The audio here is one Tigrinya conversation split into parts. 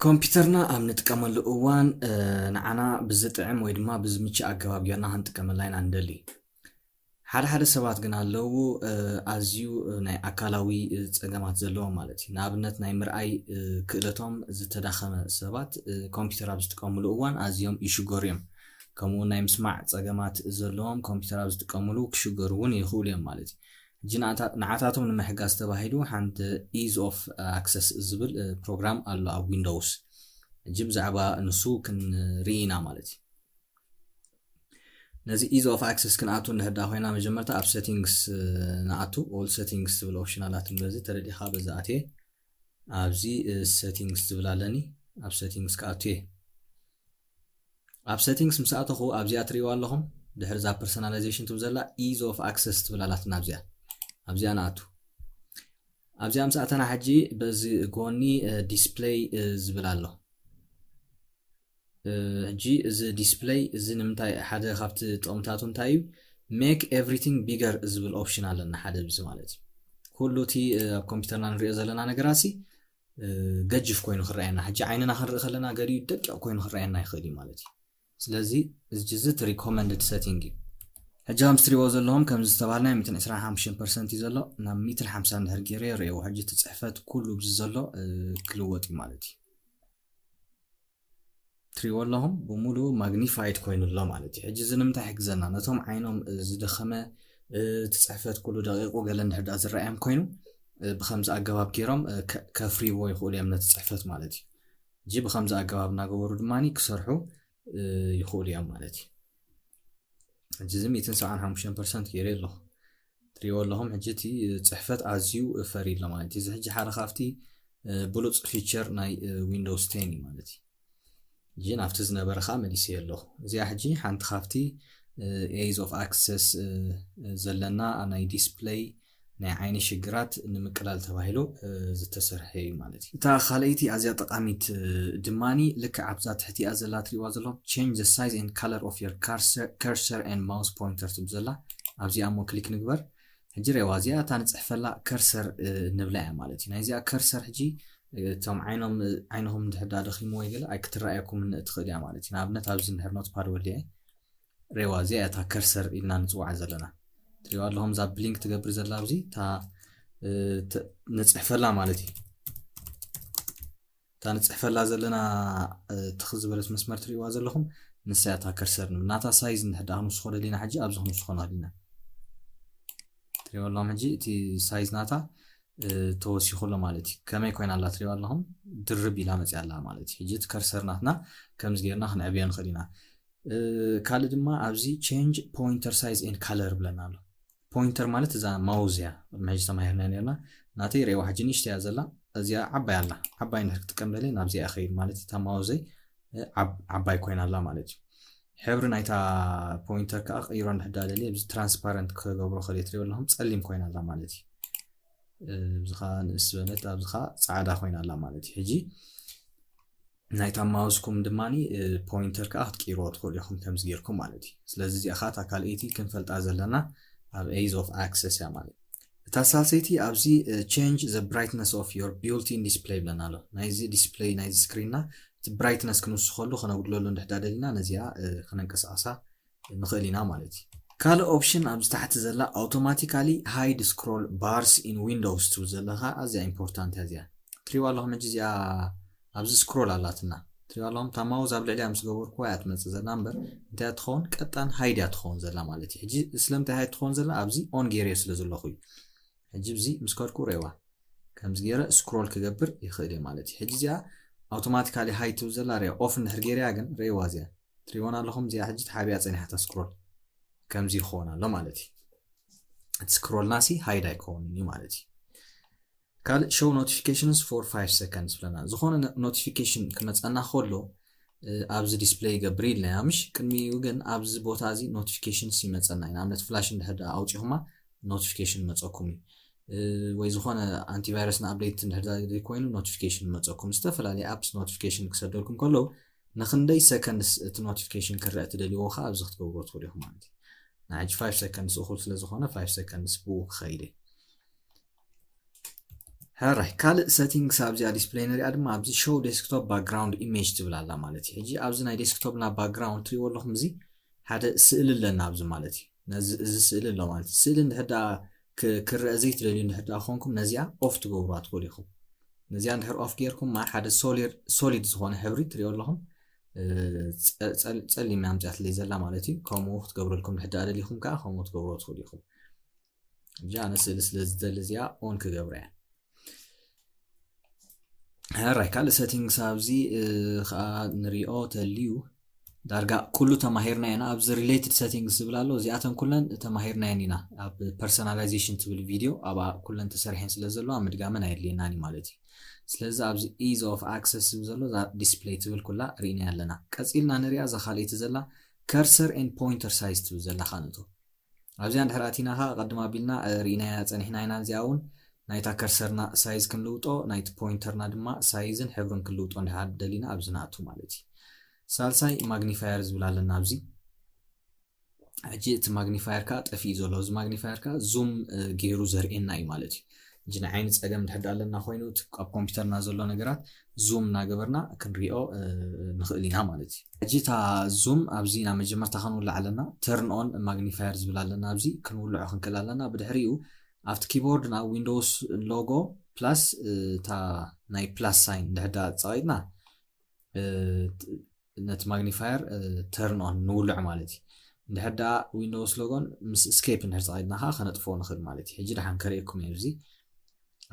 ኮምፒተርና ኣብ ንጥቀመሉ እዋን ንዓና ብዝጥዕም ወይ ድማ ብዝምችእ ኣገባብ ጌርና ክንጥቀመላ ኢና ንደሊ ሓደ ሓደ ሰባት ግን ኣለዉ ኣዝዩ ናይ ኣካላዊ ጸገማት ዘለዎም ማለት እዩ። ንኣብነት ናይ ምርኣይ ክእለቶም ዝተዳኸመ ሰባት ኮምፒተር ኣብ ዝጥቀምሉ እዋን ኣዝዮም ይሽገሩ እዮም። ከምኡውን ናይ ምስማዕ ጸገማት ዘለዎም ኮምፒተር ኣብ ዝጥቀምሉ ክሽገሩ እውን ይኽእሉ እዮም ማለት እዩ። ሕጂ ንዓታቶም ንምሕጋዝ ተባሂሉ ሓንቲ ኢዝ ኦፍ ኣክሰስ ዝብል ፕሮግራም ኣሎ ኣብ ዊንዶውስ ሕጂ ብዛዕባ ንሱ ክንርኢ ኢና ማለት እዩ ነዚ ኢዝ ኦፍ ኣክሰስ ክንኣቱ ንሕዳ ኮይና መጀመርታ ኣብ ሴቲንግስ ንኣቱ ኦል ሴቲንግስ ዝብል ኦፕሽን ኣላት በዚ ተረዲኻ በዚ ኣትየ ኣብዚ ሴቲንግስ ዝብል ኣለኒ ኣብ ሴቲንግስ ክኣቱ እየ ኣብ ሴቲንግስ ምስ ኣተኹ ኣብዚኣ ትሪእዋ ኣለኹም ድሕሪ እዛ ፐርሶናላይዜሽን ትም ዘላ ኢዝ ኦፍ ኣክሰስ ትብል ኣላትና ኣብዚኣ ኣብዚኣ ንኣቱ ኣብዚኣ ምስ ኣተና ሕጂ በዚ ጎኒ ዲስፕለይ ዝብል ኣሎ ሕጂ እዚ ዲስፕለይ እዚ ንምንታይ ሓደ ካብቲ ጥቕምታቱ እንታይ እዩ ሜክ ኤቭሪቲንግ ቢገር ዝብል ኦፕሽን ኣለና ሓደ ብዚ ማለት እዩ ኩሉ እቲ ኣብ ኮምፒውተርና ንሪኦ ዘለና ነገራት ሲ ገጅፍ ኮይኑ ክረኣየና ሕጂ ዓይንና ክንርኢ ከለና ገሊኡ ደቂቕ ኮይኑ ክረኣየና ይኽእል እዩ ማለት እዩ ስለዚ እዚ እዚ እቲ ሪኮመንድድ ሰቲንግ እዩ ሕጂ ከም ትሪእዎ ዘለኹም ከም ዝተባሃልናይ 125 ፐርሰንት እዩ ዘሎ ናብ 150 እንድሕር ገይረ የርእየዎ ሕጂ እቲ ፅሕፈት ኩሉ ብዚ ዘሎ ክልወጥ እዩ ማለት እዩ ትሪእዎ ኣለኹም ብሙሉ ማግኒፋይድ ኮይኑ ኣሎ ማለት እዩ ሕጂ እዚ ንምንታይ ይሕግዘና ነቶም ዓይኖም ዝደኸመ እቲ ፅሕፈት ኩሉ ደቂቁ ገለ እንድሕዳ ዝረኣዮም ኮይኑ ብከምዚ ኣገባብ ገይሮም ከፍርይዎ ይኽእሉ እዮም ነቲ ፅሕፈት ማለት እዩ እጂ ብከምዚ ኣገባብ እናገበሩ ድማ ክሰርሑ ይኽእሉ እዮም ማለት እዩ ሕጂ እዚ ሚትን ሰብዓን ሓሙሽተን ፐርሰንት ገይረ ኣለኹ ትሪእዎ ኣለኹም ሕጂ እቲ ፅሕፈት ኣዝዩ ፈሪ ኣሎ ማለት እዩ እዚ ሕጂ ሓደ ካብቲ ብሉፅ ፊቸር ናይ ዊንዶውስ ቴን እዩ ማለት እዩ ሕጂ ናብቲ ዝነበረ ከዓ መሊሰ ኣለኹ እዚኣ ሕጂ ሓንቲ ካብቲ ኤዝ ኦፍ ኣክሰስ ዘለና ናይ ዲስፕለይ ናይ ዓይኒ ሽግራት ንምቅላል ተባሂሉ ዝተሰርሐ እዩ ማለት እዩ። እታ ካልኣይቲ ኣዝያ ጠቃሚት ድማ ልክዕ ኣብዛ ትሕቲኣ ዘላ ትሪእዋ ዘለኹም change the size and color of your cursor and mouse pointer ትብል ዘላ ኣብዚኣ እሞ ክሊክ ንግበር። ሕጂ ሬዋ እዚኣ እታ ንፅሕፈላ ከርሰር ንብላ እያ ማለት እዩ። ናይዚኣ ከርሰር ሕጂ እቶም ዓይኖም ዓይንኹም እንድሕር ዳኣ ደኺሙ ወይ ገለ ኣይክትረኣየኩም እትኽእል እያ ማለት እዩ። ንኣብነት ኣብዚ እንድሕር ኖትፓድ ወሊዐ ሬዋ እዚኣ እታ ከርሰር ኢልና ንፅዋዓ ዘለና ትሪዋ ኣለኹም እዛ ብሊንክ ትገብር ዘላ ኣብዚ እታ ንፅሕፈላ ማለት እዩ እታ ንፅሕፈላ ዘለና ትኽ ዝበለት መስመር ትሪእዋ ዘለኹም ንሳ እታ ከርሰር ንብል ናታ ሳይዝ ንሕዳ ክንውስኾ ደሊና ሕጂ ኣብዚ ክንውስኾ ንኽእሊና ትሪእዋ ኣለኹም ሕጂ እቲ ሳይዝ ናታ ተወሲኹ ኣሎ ማለት እዩ ከመይ ኮይና ኣላ ትሪእዋ ኣለኹም ድርብ ኢላ መፅያ ኣላ ማለት እዩ ሕጂ እቲ ከርሰር ናትና ከምዚ ጌርና ክንዕብዮ ንኽእል ኢና ካልእ ድማ ኣብዚ ቸንጅ ፖይንተር ሳይዝ ን ካለር ብለና ኣሎ ፖይንተር ማለት እዛ ማውዝ እያ መሕጂ ተማሂርና ነርና ናተይ ርእዋ ሕጂ ንእሽተ እያ ዘላ እዚኣ ዓባይ ኣላ ዓባይ ንድሕር ክጥቀም ደለ ናብዚኣ ይኸይድ ማለት እታ ማውዘይ ዓባይ ኮይና ኣላ ማለት እዩ ሕብሪ ናይታ ፖይንተር ከዓ ቀይሮ ንድሕዳ ደለ እዚ ትራንስፓረንት ክገብሮ ከል ትሪኦ ኣለኹም ፀሊም ኮይና ኣላ ማለት እዩ እዚኻ ንእስ በለት ኣብዚኻ ፃዕዳ ኮይና ኣላ ማለት እዩ ሕጂ ናይታ ማውስኩም ድማ ፖይንተር ከዓ ክትቅይርዎ ትኽእሉ ኢኹም ከምዚ ጌርኩም ማለት እዩ ስለዚ እዚኣ ከዓ እታ ካልኣይቲ ክንፈልጣ ዘለና ኣብ ኤዝ ኦፍ ኣክሰስ እያ ማለት እታ ሳልሰይቲ ኣብዚ ቼንጅ ዘ ብራይትነስ ኦፍ ዮር ቢልቲን ዲስፕለይ ብለና ኣሎ ናይዚ ዲስፕለይ ናይዚ ስክሪንና እቲ ብራይትነስ ክንውስኸሉ ከነጉድለሉ እንድሕዳ ደሊና ነዚኣ ክነንቀሳቐሳ ንኽእል ኢና ማለት እዩ። ካልእ ኦፕሽን ኣብዚ ታሕቲ ዘላ ኣውቶማቲካሊ ሃይድ ስክሮል ባርስ ኢን ዊንዶውስ ትብል ዘላ ከኣ ኣዝያ ኢምፖርታንት እያ እዚኣ ትሪዋ ኣለኹም ሕጂ እዚኣ ኣብዚ ስክሮል ኣላትና ትሪዋ ኣለኹም እታ ማውዝ ኣብ ልዕሊያ ምስ ገበርኩዋ እያ ትመጽእ ዘላ እምበር እንታይ እያ ትኸውን ቀጣን ሃይድ እያ ትኸውን ዘላ ማለት እዩ ሕጂ ስለምንታይ ሃይድ ትኸውን ዘላ ኣብዚ ኦን ገይረዮ ስለ ዘለኹ እዩ ሕጂ ብዚ ምስ ከድኩ ሬዋ ከምዚ ገይረ ስክሮል ክገብር ይኽእል እየ ማለት እዩ ሕጂ እዚኣ ኣውቶማቲካሊ ሃይድ ትብል ዘላ ሬዋ ኦፍ እንድሕር ገይረያ ግን ሬዋ እዚኣ ትሪእዎና ኣለኹም እዚኣ ሕጂ ተሓቢኣ ፀኒሓታ ስክሮል ከምዚ ይኸውን ኣሎ ማለት እዩ እቲ ስክሮልና ሲ ሃይድ ኣይከውንን እዩ ማለት እዩ ካልእ ሾው ኖቲፊኬሽንስ ፎር 5 ሰከንድስ ብለና ዝኾነ ኖቲፊኬሽን ክመፀና ከሎ ኣብዚ ዲስፕለይ ይገብር ኢልና ኢና ምሽ ቅድሚኡ ግን ኣብዚ ቦታ እዚ ኖቲፊኬሽንስ ይመፀና እዩ ንኣብነት ፍላሽ እንድሕር ኣውፂኹማ ኖቲፊኬሽን መፀኩም እዩ ወይ ዝኾነ ኣንቲቫይረስ ንኣብደይት እንድሕር ኮይኑ ኖቲፊኬሽን መፀኩም ዝተፈላለዩ ኣፕስ ኖቲፊኬሽን ክሰደልኩም ከለዉ ንክንደይ ሰከንድስ እቲ ኖቲፊኬሽን ክረእ ትደልይዎ ከኣ ኣብዚ ክትገብርዎ ትኽእሉ ኢኹም ማለት እዩ ናይ ሕጂ 5 ሰከንድስ እኹል ስለ ዝኾነ 5 ሰከንድስ ብኡ ክኸይድ እየ ሕራይ ካልእ ሰቲንግስ ኣብዚኣ ዲስፕለይ ንሪኣ ድማ ኣብዚ ሾው ዴስክቶፕ ባክግራውንድ ኢሜጅ ትብል ኣላ ማለት እዩ ሕጂ ኣብዚ ናይ ዴስክቶፕና ባክግራውንድ ትሪእዎ ኣለኹም እዚ ሓደ ስእሊ ኣለና ኣብዚ ማለት እዩ ነዚ እዚ ስእሊ ኣሎ ማለት እዩ ስእሊ እንድሕር ደኣ ክረእ ዘይትደልዩ እንድሕር ደኣ ኮንኩም ነዚኣ ኦፍ ትገብሩዋ ትኽእሉ ኢኹም ነዚኣ እንድሕር ኦፍ ጌርኩም ማር ሓደ ሶሊድ ዝኾነ ሕብሪ ትሪኦ ኣለኹም ጸሊም ኣምፅያትለይ ዘላ ማለት እዩ ከምኡ ክትገብረልኩም ድሕዳ ደሊኹም ከዓ ከምኡ ትገብሮ ትኽእሉ ኢኹም እጃ ኣነ ስእሊ ስለ ዝደሊ እዚኣ ኦን ክገብረ እያ ራይ ካልእ ሰቲንግስ ኣብዚ ከዓ ንሪኦ ተልዩ ዳርጋ ኩሉ ተማሂርና ኢና ኣብዚ ሪሌትድ ሰቲንግስ ዝብል ኣሎ እዚኣተን ኩለን ተማሂርናየን ኢና ኣብ ፐርሶናላይዜሽን ትብል ቪድዮ ኣብኣ ኩለን ተሰሪሐን ስለ ዘለዋ ምድጋመን ኣየድልየናን እዩ ማለት እዩ ስለዚ ኣብዚ ኢዝ ኦፍ ኣክሰስ ዝብል ዘሎ እዛ ዲስፕሌይ ትብል ኩላ ርኢናያ ኣለና ቀፂልና ንሪኣ እዛ ካልኣይቲ ዘላ ከርሰር ን ፖይንተር ሳይዝ ትብል ዘላ ካኣ ንእቶ ኣብዚኣ እንድሕር ኣቲና ከኣ ቅድም ኣቢልና ርኢናያ ጸኒሕና ኢና እዚኣ ውን ናይታ ከርሰርና ሳይዝ ክንልውጦ ናይቲ ፖይንተርና ድማ ሳይዝን ሕብርን ክንልውጦ እንድሕር ደሊና ኣብዚ ንኣቱ ማለት እዩ ሳልሳይ ማግኒፋየር ዝብል ኣለና ኣብዚ ሕጂ እቲ ማግኒፋየር ከዓ ጠፊኡ ዘሎ እዚ ማግኒፋየር ከዓ ዙም ገይሩ ዘርእየና እዩ ማለት እዩ ሕጂ ናይ ዓይኒ ጸገም ድሕር ድኣ ኣለና ኮይኑ እቲ ኣብ ኮምፒውተርና ዘሎ ነገራት ዙም እናገበርና ክንሪኦ ንኽእል ኢና ማለት እዩ ሕጂ እታ ዙም ኣብዚ ናብ መጀመርታ ክንውልዕ ኣለና ተርን ኦን ማግኒፋየር ዝብል ኣለና ኣብዚ ክንውልዖ ክንክእል ኣለና ብድሕሪኡ ኣብቲ ኪቦርድና ዊንዶውስ ሎጎ ፕላስ እታ ናይ ፕላስ ሳይን ድሕዳ ፀቂጥና ነቲ ማግኒፋየር ተርን ኦን ንውልዕ ማለት እዩ እንድሕር ደኣ ዊንዶውስ ሎጎን ምስ ስኬፕ እንድሕር ተቐይድና ከዓ ከነጥፍዎ ንኽእል ማለት እዩ ሕጂ ደሓን ከርእየኩም እዩ ኣብዚ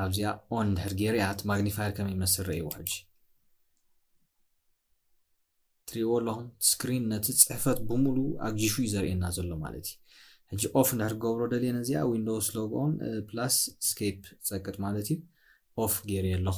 ኣብዚኣ ኦን እንድሕር ገይረ እያ እቲ ማግኒፋየር ከመይ ይመስል ረእይዎ ሕጂ ትሪእዎ ኣለኹም ስክሪን ነቲ ፅሕፈት ብምሉ ኣግጂሹ እዩ ዘርእየና ዘሎ ማለት እዩ ሕጂ ኦፍ እንድሕር ገብሮ ደልየ ነዚኣ ዊንዶውስ ሎግ ኦን ፕላስ ስኬፕ ፀቅጥ ማለት እዩ ኦፍ ገይረ ኣለኹ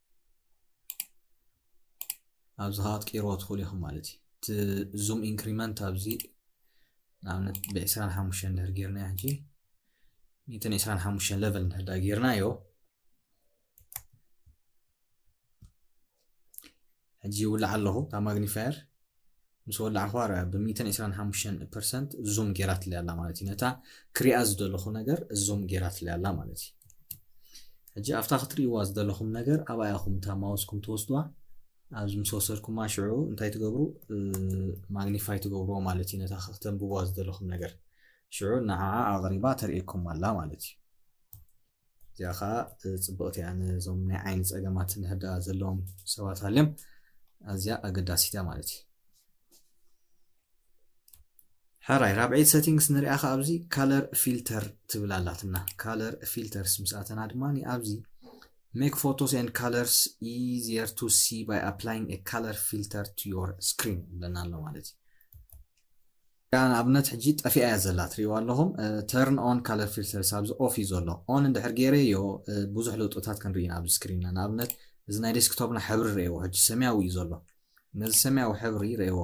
ኣብዚ ከዓ ትቅይርዎ ትኽእሉ ኢኹም ማለት እዩ እቲ ዙም ኢንክሪመንት ኣብዚ ንኣብነት ብዕስራን ሓሙሽተን እንድሕር ጌርና ሕጂ ሚእትን ዕስራን ሓሙሽተን ለቨል እንድሕር ዳ ጌርናዮ ሕጂ ይውላዕ ኣለኹ ካብ ማግኒፋየር ምስ ወላዕኹዋ ርኣ ብሚእትን ዕስራን ሓሙሽተን ፐርሰንት ዙም ጌራትለይ ኣላ ማለት እዩ ነታ ክሪኣ ዝደለኹ ነገር ዙም ጌራትለይ ኣላ ማለት እዩ ሕጂ ኣብታ ክትርእይዋ ዝደለኹም ነገር ኣብ ኣያኹም እታ ማውስኩም ትወስድዋ ኣብዚ ምስ ወሰድኩማ ሽዑ እንታይ ትገብሩ ማግኒፋይ ትገብርዎ ማለት እዩ ነታ ክተንብብዋ ዝደለኹም ነገር ሽዑ ንዓዓ ኣቕሪባ ተርእየኩም ኣላ ማለት እዩ እዚኣ ከዓ ፅብቕቲ እያ ነዞም ናይ ዓይኒ ፀገማት ንሕዳ ዘለዎም ሰባት ሃልዮም ኣዝያ ኣገዳሲት እያ ማለት እዩ ሕራይ ራብዒት ሰቲንግስ ንሪኣ ከዓ ኣብዚ ካለር ፊልተር ትብል ኣላትና ካለር ፊልተርስ ምስ ኣተና ድማ ኣብዚ ሜክ ፎቶስ ን ካለርስ ኢዚየር ቱ ሲ ባይ ኣፕላይንግ ካለር ፊልተር ቱ ዮር ስክሪን ብለና ኣሎ ማለት እዩ እታ ንኣብነት ሕጂ ጠፊኣ እያ ዘላ ትሪእዋ ኣለኹም Turn on Color Filters ኣብዚ Off እዩ ዘሎ On እንድሕር ጌረዮ ብዙሕ ለውጥታት ክንርኢ ኢና ኣብዚ ስክሪንና ንኣብነት እዚ ናይ ዴስክቶፕና ሕብሪ ረእዎ ሕጂ ሰማያዊ እዩ ዘሎ ነዚ ሰማያዊ ሕብሪ ረእዎ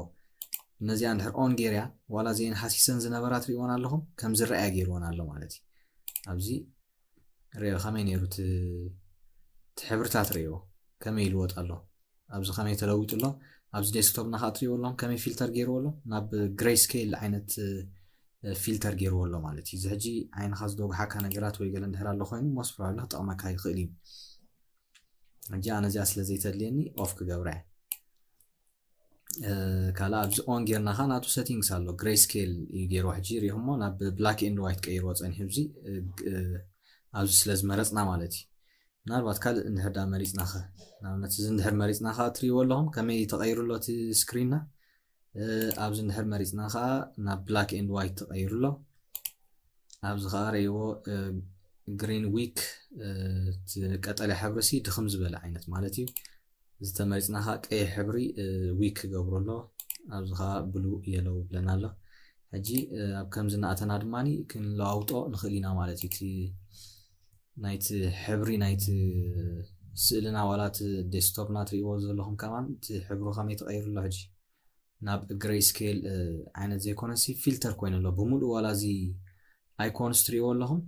እነዚኣ እንድሕር ኦን ጌርያ ዋላ እዚኤን ሃሲሰን ዝነበራ ትሪእወን ኣለኹም ከም ዝረኣያ ገይርወን ኣሎ ማለት እዩ ኣብዚ ሪኦ ከመይ ነይሩ እቲ ሕብርታት ሪኦ ከመይ ይልወጥ ኣሎ ኣብዚ ከመይ ተለዊጡ ኣሎ ኣብዚ ዴስክቶፕ ናካ ትሪእዎ ኣሎም ከመይ ፊልተር ገይርዎ ኣሎ ናብ ግሬይ ስኬል ዓይነት ፊልተር ገይርዎ ኣሎ ማለት እዩ እዚ ሕጂ ዓይንካ ዝደጉሓካ ነገራት ወይ ገለ እንድሕር ኣሎ ኮይኑ ሞስ ፕሮባብሊ ክጠቕመካ ይኽእል እዩ ሕጂ ኣነ እዚኣ ስለ ዘይተድልየኒ ኦፍ ክገብራ እየ ካልእ ኣብዚ ኦን ጌርና ከ ናቱ ሰቲንግስ ኣሎ ግሬ ስኬል እዩ ገይርዎ ሕጂ ሪኢኹሞ ናብ ብላክ ኤንድ ዋይት ቀይርዎ ፀኒሑ ዚ ኣብዚ ስለ ዝመረፅና ማለት እዩ ምናልባት ካልእ እንድሕር ዳ መሪፅና ኸ ንኣብነት እዚ እንድሕር መሪፅና ከዓ ትሪእዎ ኣለኹም ከመይ ተቐይሩ ኣሎ እቲ ስክሪንና ኣብዚ እንድሕር መሪፅና ከዓ ናብ ብላክ ኤንድ ዋይት ተቐይሩ ኣሎ ኣብዚ ከዓ ርእይዎ ግሪን ዊክ ቀጠልያ ሕብሪ ሲ ድኽም ዝበለ ዓይነት ማለት እዩ ዝተመሪጽና ከኣ ቀይሕ ሕብሪ ዊክ ክገብሮ ኣሎ ኣብዚ ከኣ ብሉ የለው ይብለና ኣሎ ሕጂ ኣብ ከምዚ እናእተና ድማ ክንለዋውጦ ንኽእል ኢና ማለት እዩ እቲ ናይቲ ሕብሪ ናይቲ ስእልና ዋላ እቲ ዴስክቶፕና ትርእይዎ ዘለኹም ከማን እቲ ሕብሩ ከመይ ተቐይሩ ኣሎ ሕጂ ናብ ግሬይ ስኬል ዓይነት ዘይኮነሲ ፊልተር ኮይኑ ኣሎ ብምሉእ ዋላ እዚ ኣይኮንስ ትርእይዎ ኣለኹም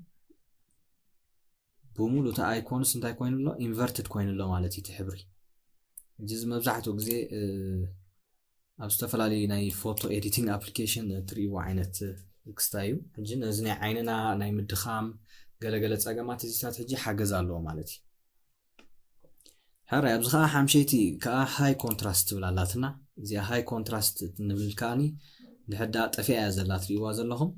ብሙሉ እቲ ኣይኮንስ እንታይ ኮይኑ ኣሎ ኢንቨርትድ ኮይኑ ኣሎ ማለት እዩ እቲ ሕብሪ እዚ እዚ መብዛሕትኡ ግዜ ኣብ ዝተፈላለዩ ናይ ፎቶ ኤዲቲንግ ኣፕሊኬሽን እትርእይዎ ዓይነት ክስታ እዩ ሕጂ ነዚ ናይ ዓይንና ናይ ምድኻም ገለገለ ፀገማት እዚታት ሕጂ ሓገዝ ኣለዎ ማለት እዩ ሕራይ ኣብዚ ከዓ ሓምሸይቲ ከዓ ሃይ ኮንትራስት ትብል ኣላትና እዚኣ ሃይ ኮንትራስት ንብል ከዓኒ ንሕዳ ጠፊኣ እያ ዘላ ትርእይዋ ዘለኹም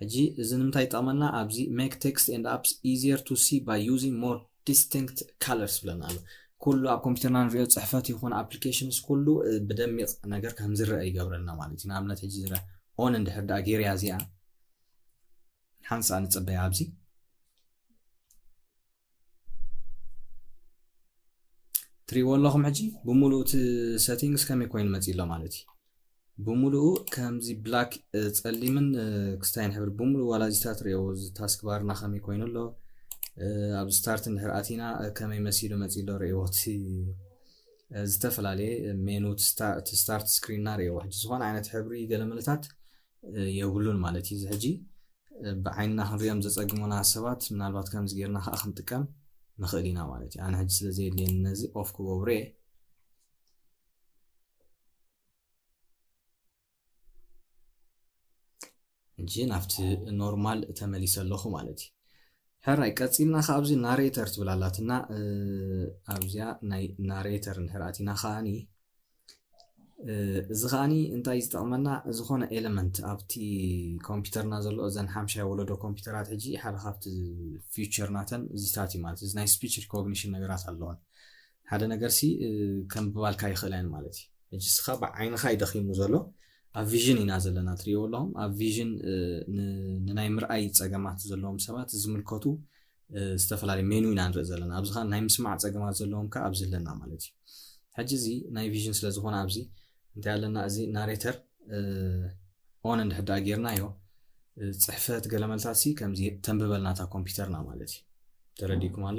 ሕጂ እዚ ንምንታይ ይጠቕመና ኣብዚ make text and apps easier to see by using more distinct colors ይብለና ኣሎ ኩሉ ኣብ ኮምፒውተርና ንሪኦ ፅሕፈት ይኹን ኣፕሊኬሽንስ ኩሉ ብደሚቕ ነገር ከም ዝረአ ይገብረልና ማለት እዩ ንኣብነት ሕጂ ዝረአ ኦን እንድሕር ድኣ ጌርያ እዚኣ ሓንሳእ ንፅበያ ኣብዚ ትሪእዎ ኣለኹም ሕጂ ብምሉኡ እቲ ሰቲንግስ ከመይ ኮይኑ መፂ ኣሎ ማለት እዩ ብምሉኡ ከምዚ ብላክ ፀሊምን ክስታይን ሕብሪ ብምሉኡ ዋላ እዚታት ሪኦ ታስክ ባርና ከመይ ኮይኑ ኣሎ ኣብ ስታርት እንድሕር ኣቲና ከመይ መሲሉ መፂ ኣሎ ሪእዎ እቲ ዝተፈላለየ ሜኑ ስታርት ስክሪንና ሪእዎ ሕጂ ዝኾነ ዓይነት ሕብሪ ገለመለታት የብሉን ማለት እዩ። እዚ ሕጂ ብዓይንና ክንሪኦም ዘጸግሙና ሰባት ምናልባት ከምዚ ጌርና ከዓ ክንጥቀም ንኽእል ኢና ማለት እዩ። ኣነ ሕጂ ስለ ዘየድልየኒ ነዚ ኦፍ ክገብሮ እየ። ሕጂ ናብቲ ኖርማል ተመሊሰ ኣለኹ ማለት እዩ። ሕራይ ቀጺልና ከዓ ኣብዚ ናሬተር ትብል ኣላትና ኣብዚኣ ናይ ናሬተር እንድሕር ኣቲና ከዓኒ እዚ ከዓ እንታይ እዩ ዝጠቅመና ዝኾነ ኤለመንት ኣብቲ ኮምፒውተርና ዘሎ እዘን ሓምሻይ ወለዶ ኮምፒውተራት ሕጂ ሓደ ካብቲ ፊቸር ናተን እዚታት እዩ ማለት እዚ ናይ ስፒች ሪኮግኒሽን ነገራት ኣለዋን ሓደ ነገር ሲ ከምብባልካ ይኽእላ እየን ማለት እዩ ሕጂ ስኻ ብዓይንኻ እዩ ደኺሙ ዘሎ ኣብ ቪዥን ኢና ዘለና ትሪእዎ ኣለኹም ኣብ ቪዥን ንናይ ምርኣይ ፀገማት ዘለዎም ሰባት ዝምልከቱ ዝተፈላለዩ ሜኑ ኢና ንርኢ ዘለና ኣብዚ ከዓ ናይ ምስማዕ ፀገማት ዘለዎም ከዓ ኣብዚ ኣለና ማለት እዩ ሕጂ እዚ ናይ ቪዥን ስለ ዝኾነ ኣብዚ እንታይ ኣለና እዚ ናሬተር ኦን እንድሕዳ ጌርናዮ ፅሕፈት ገለመልታት ሲ ከምዚ ተንብበልና እታ ኮምፒውተርና ማለት እዩ ተረዲኩም ኣሎ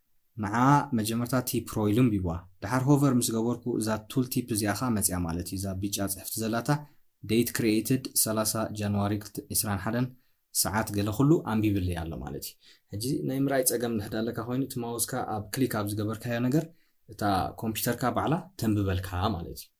ንዓ መጀመርታ እቲ ፕሮይል ኣንብቡዋ ድሓር ሆቨር ምስ ገበርኩ እዛ ቱል ቲፕ እዚኣ ከኣ መጺኣ ማለት እዩ እዛ ቢጫ ጽሕፍቲ ዘላታ Date Created ሰላሳ ጃንዋሪ ዕስራን ሓደን ሰዓት ገለ ኩሉ ኣንቢብለይ ኣሎ ማለት እዩ ሕጂ ናይ ምርኣይ ጸገም እንድሕር ኣለካ ኮይኑ እቲ ማውስካ ኣብ ክሊክ ኣብ ዝገበርካዮ ነገር እታ ኮምፒተርካ ባዕላ ተንብበልካ ማለት እዩ።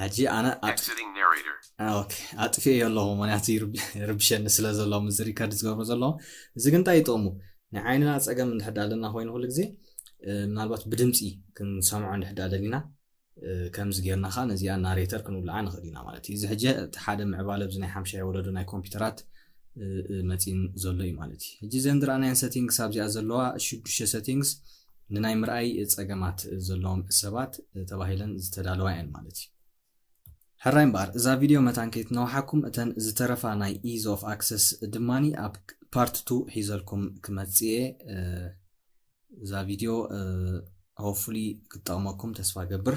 ሕጂ ኣነ ኣጥፍኤ ኣለኹ ምክንያቱ ይርብሸኒ ስለ ዘሎ ምዚ ሪከርድ ዝገብሮ ዘሎ እዚ ግን እንታይ ይጠቕሙ ናይ ዓይንና ፀገም እንድሕዳ ኣለና ኮይኑ ኩሉ ግዜ ምናልባት ብድምፂ ክንሰምዖ እንድሕዳ ደሊና ከምዚ ጌርና ከዓ ነዚኣ ናሬተር ክንብልዓ ንኽእል ኢና ማለት እዩ እዚ ሕጂ እቲ ሓደ ምዕባለ ብዚ ናይ ሓምሻይ ወለዶ ናይ ኮምፒውተራት መፂን ዘሎ እዩ ማለት እዩ ሕጂ ዘንድራኣናየን ሰቲንግስ ኣብዚኣ ዘለዋ ሽዱሽተ ሰቲንግስ ንናይ ምርኣይ ጸገማት ዘለዎም ሰባት ተባሂለን ዝተዳለዋ እየን ማለት እዩ። ሕራይ እምበኣር እዛ ቪድዮ መታን ከይትነውሓኩም እተን ዝተረፋ ናይ ኢዝ ኦፍ ኣክሰስ ድማ ኣብ ፓርት ቱ ሒዘልኩም ክመጽእ እየ። እዛ ቪድዮ ሆፕፉሊ ክትጠቕመኩም ተስፋ ገብር።